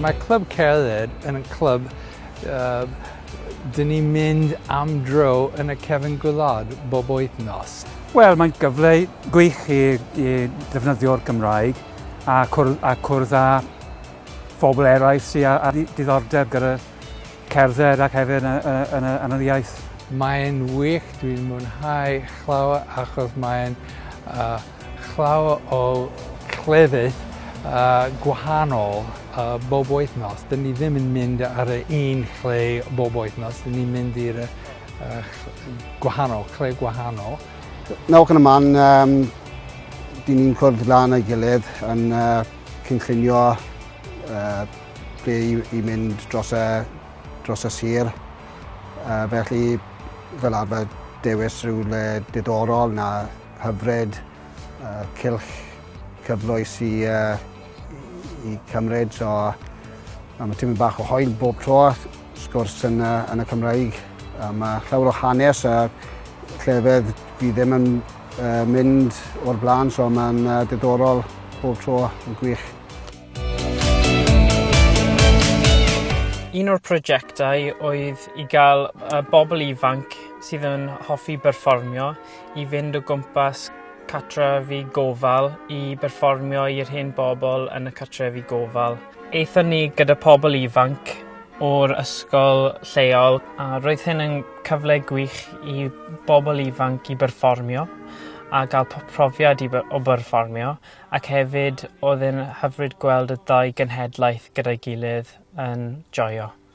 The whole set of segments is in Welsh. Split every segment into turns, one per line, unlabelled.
Mae Clwb Cerdded yn y clwb uh, dyn ni'n mynd am dro yn y cefn gwlad bob wythnos. Wel, mae'n gyfle gwych i, i ddefnyddio'r Gymraeg a cwrdd, a cwrdd â phobl eraill sydd â, â diddordeb gyda cerdded ac hefyd yn, yn, yn, yn, yn yr iaith. Mae'n wych, dwi'n mwynhau llawer achos mae'n uh, llawer o cleddydd uh, gwahanol uh, bob wythnos. Dyn ni ddim yn mynd ar y un lle bob wythnos, dyn ni'n mynd i'r uh, gwahanol, lle gwahanol. Nawr gan y man, um, dyn ni'n cwrdd lan ei gilydd yn uh, cynllunio uh, ble i, i mynd dros y, dros y sir. Uh, felly, fel arfer, dewis rhywle diddorol na hyfryd, uh, cilch cyfloes i, uh, i cymryd. So, mae tîm bach o hoel bob tro. sgwrs yn y, yn y Cymraeg. A mae llawer o hanes a llefedd fi ddim yn uh, mynd o'r blaen, so mae'n uh, diddorol bob tro yn gwych. Un o'r prosiectau oedd i gael y bobl ifanc sydd yn hoffi berfformio i fynd o gwmpas cartrefi gofal i berfformio i'r hen bobl yn y cartrefi gofal. Aethon ni gyda pobl ifanc o'r ysgol lleol a roedd hyn yn cyfle gwych i bobl ifanc i berfformio a ga'l po- profiad i by- o byrfformio ac hefyd odd e'n hyfryd gweld y ddau genhedlaeth gyda'i gilydd yn joio.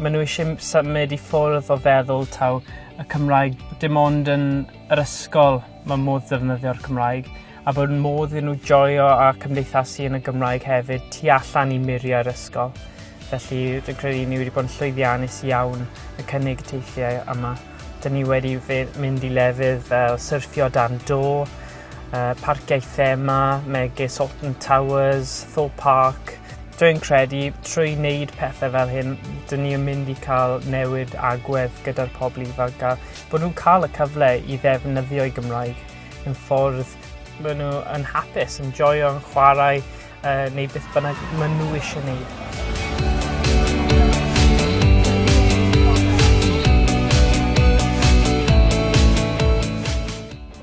Maen nhw eisiau m- symud i ffwrdd o feddwl taw y Cymraeg dim ond yn yr ysgol mae modd defnyddio'r Cymraeg a bod modd iddyn nhw joio a cymdeithasu yn y Gymraeg hefyd tu allan i muriau'r ysgol. Felly dwi'n credu ni wedi bod yn llwyddiannus iawn y cynnig teithiau yma. Dyn ni wedi fe- mynd i lefydd fel syrffio dan do, parciau thema megis Alton Towers, Thorpe Park. Dwi'n credu trwy wneud pethau fel hyn, dyn ni yn mynd i cael newid agwedd gyda'r pobl ifanc a bod nhw'n cael y cyfle i ddefnyddio'i Gymraeg yn ffordd maen nhw yn hapus, yn joio, yn chwarae uh, neu beth bynnag maen nhw eisiau gwneud.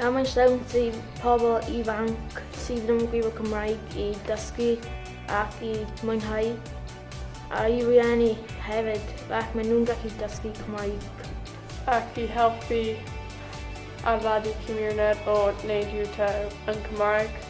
A mae'n siawns i pobl ifanc sydd ddim yn gwybod Cymraeg i dysgu ac i mwynhau, a i rieni hefyd, ac maen nhw'n gallu dysgu Cymraeg. Ac i helpu adeiladu cymuned o wneud YouTube yn Cymraeg.